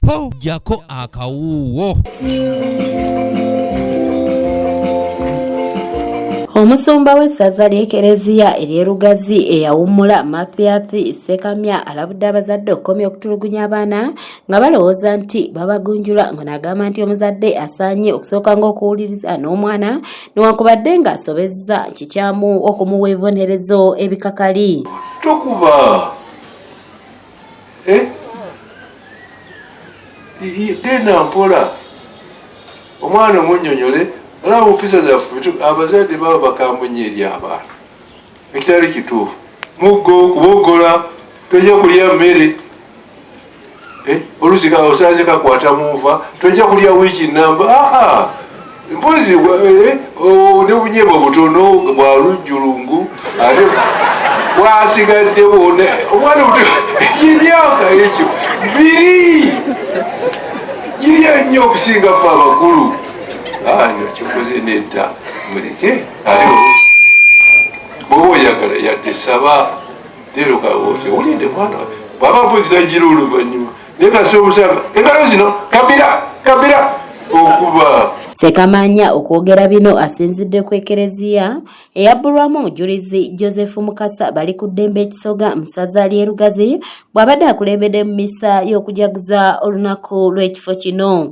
po jako akawuwo omusumba w'essaza ly'ekereziya ery'erugazi eyawummula mathiathi sekamya alabudde abazadde okukomya okutulugunya abaana nga balowooza nti babagunjula nga nagamba nti omuzadde asaanye okusooka ng'okuwuliriza n'omwana newankubadde ng'asobezza kikyamu okumuwa ebibonerezo ebikakali tokuba eh? genda mpola omwana omunyonyole olaba mumpisa zaffe abazadde baba bakambunya eri abaana ekitali kituufu muggo kubogola tojja kulya mmere eh, olusi osanze kakwata munva tojja kulya wiiki namba aa ah, ah. mpozi eh, oh, ne bunyebo butono bwa lujjulungu ate bwasigaddewo omwana omuto emyaka ekyo biri girya nnyo okusinga fe abakulu ayo kikoze nedda muleke ate bwoba oyagala yadde saba leero kawote olinde mwana baba mpozi nagira oluvannyuma Ssekamanya okwogera bino asinzidde ku ekereziya eyabbulwamu omujulizi Joseph Mukasa bali ku ddembe ekisoga mu ssaza ly'e Lugazi bw'abadde akulembedde mu misa y'okujaguza olunaku lw'ekifo kino.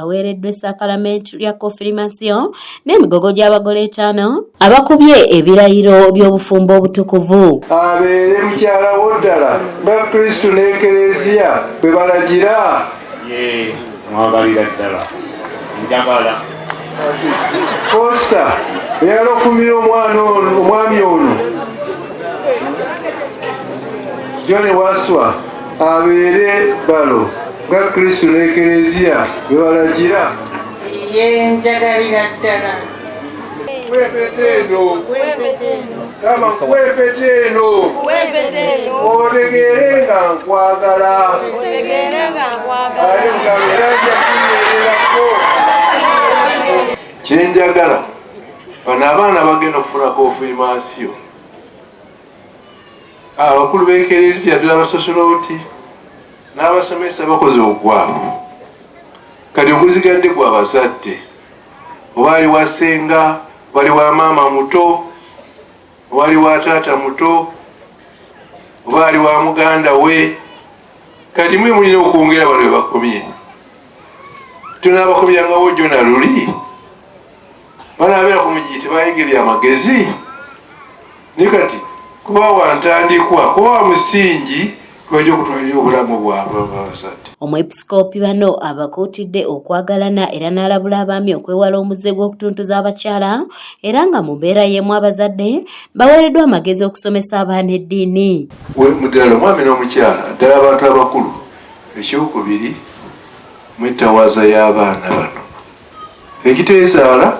aweereddwa esakalamentu lya kofirimasiyo n'emigogo gy'abagole etaano abakubye ebirayiro by'obufumbo obutukuvu abeere mukyala wo ddala nga kristu n'ekereziya bwe balagira ye mwagalira ddala njagala kosta eyala okumira omwana omwami ono jone waswa abeere balo nga kristu n'ekereziya bwe balagira ye njagalira ddala kwepetendo kama kwepetendo otegeere nga nkwagala ali mukamera njakunyererako kyenjagala bano abaana bagenda okufunako ofuimansiyo Abakulu b'ekereziya ddala abasosolooti n'abasomesa bakoze ogwabwe, kati oguzigadde gwa bazadde, oba ali wa ssenga, wali wa maama muto, wali wa taata muto, oba ali wa muganda we. Kati mwe mulina okwongera bano bebakomye, tunaabakomyangawo jona luli. banabeera ku miji tebayingira amagezi ni kati kuba wantandikwa kuba wa musingi kwegyo okutwalira obulamu bwabwe abazadde omwepisikoopi bano abakuutidde okwagalana era n'alabula abaami okwewala omuze gw'okutuntuza abakyala era nga mu mbeera y'emu abazadde baweereddwa amagezi okusomesa abaana eddiini muddala omwami n'omukyala ddala abantu abakulu ekyokubiri mwetawaaza y'abaana bano ekiteezaala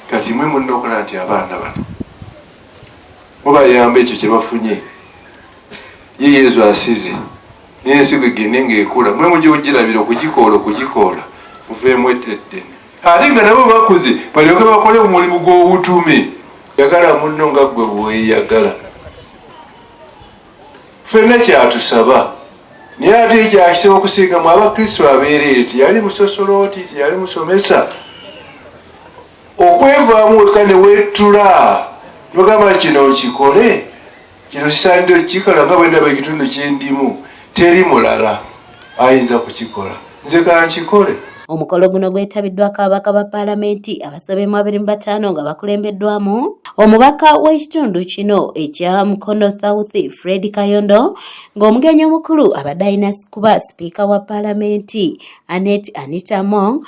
kati mwe mulina okulaba nti abaana bano mubayamba ekyo kyebafunye ye yezu asize naye ensigo egende ngaekula mwe muja ogirabira okugikoola okugikoola muveemu eteddene ate nga nabo bakuze balyoke bakole omulimu gw'obutume yagala munno nga gwe weyagala fenna kyatusaba naye ate ekyakisaba okusinga mu abakristu abeereere teyali musosolooti teyali musomesa okwevaamu wekka ne wettula nogamba kino nkikole kino kisaanidde okikala nga bwendaba ekitundu kyendimu teri mulala ayinza kukikola nze kankikole omukolo guno gwetabiddwako ababaka ba paalamenti abasobe mu abiri mu bataano nga bakulembeddwamu omubaka w'ekitundu kino ekya mukono south fred kayondo ng'omugenyi omukulu abadde alina kuba sipiika wa paalamenti anet anita mong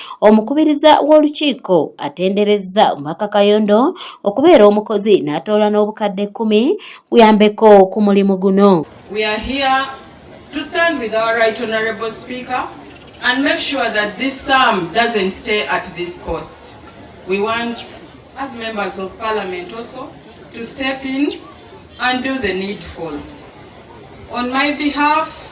Omukubiriza w'olukiiko atenderezza omubaka Kayondo okubeera omukozi n'atoola n'obukadde kkumi kuyambeko ku mulimu guno. We are here to stand with our right honorable speaker and make sure that this sum doesn't stay at this cost. We want as members of parliament also to step in and do the needful. On my behalf,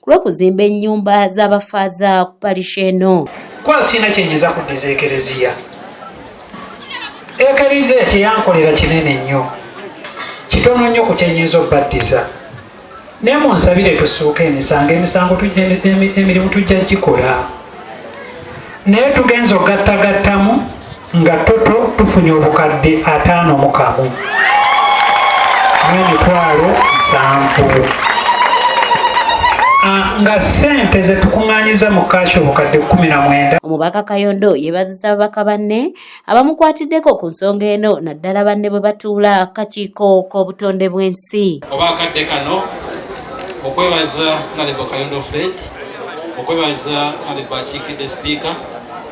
ku lw'okuzimba ennyumba z'abafaaza ku parish eno kuba sirina kyenyiza kuddiza ekereziya ekereziya kyeyankolera kinene nnyo kitono nnyo ku kyenyinza okubaddiza naye munsabire tusuuka emisango emisango emirimu tujja gikola naye tugenza ogattagattamu nga toto tufunye obukadde ataano mu kamu n'emitwalo nsanvu nga ssente ze tukuŋŋaanyiza mu kaaki obukadde kkumi na mwenda omubaka kayondo yeebaziza ababaka banne abamukwatiddeko ku nsonga eno naddala banne bwe batuula akakiiko k'obutonde bw'ensi oba akadde kano okwebaza nalebo kayondo fred okwebaza nalebo akiikidde sipiika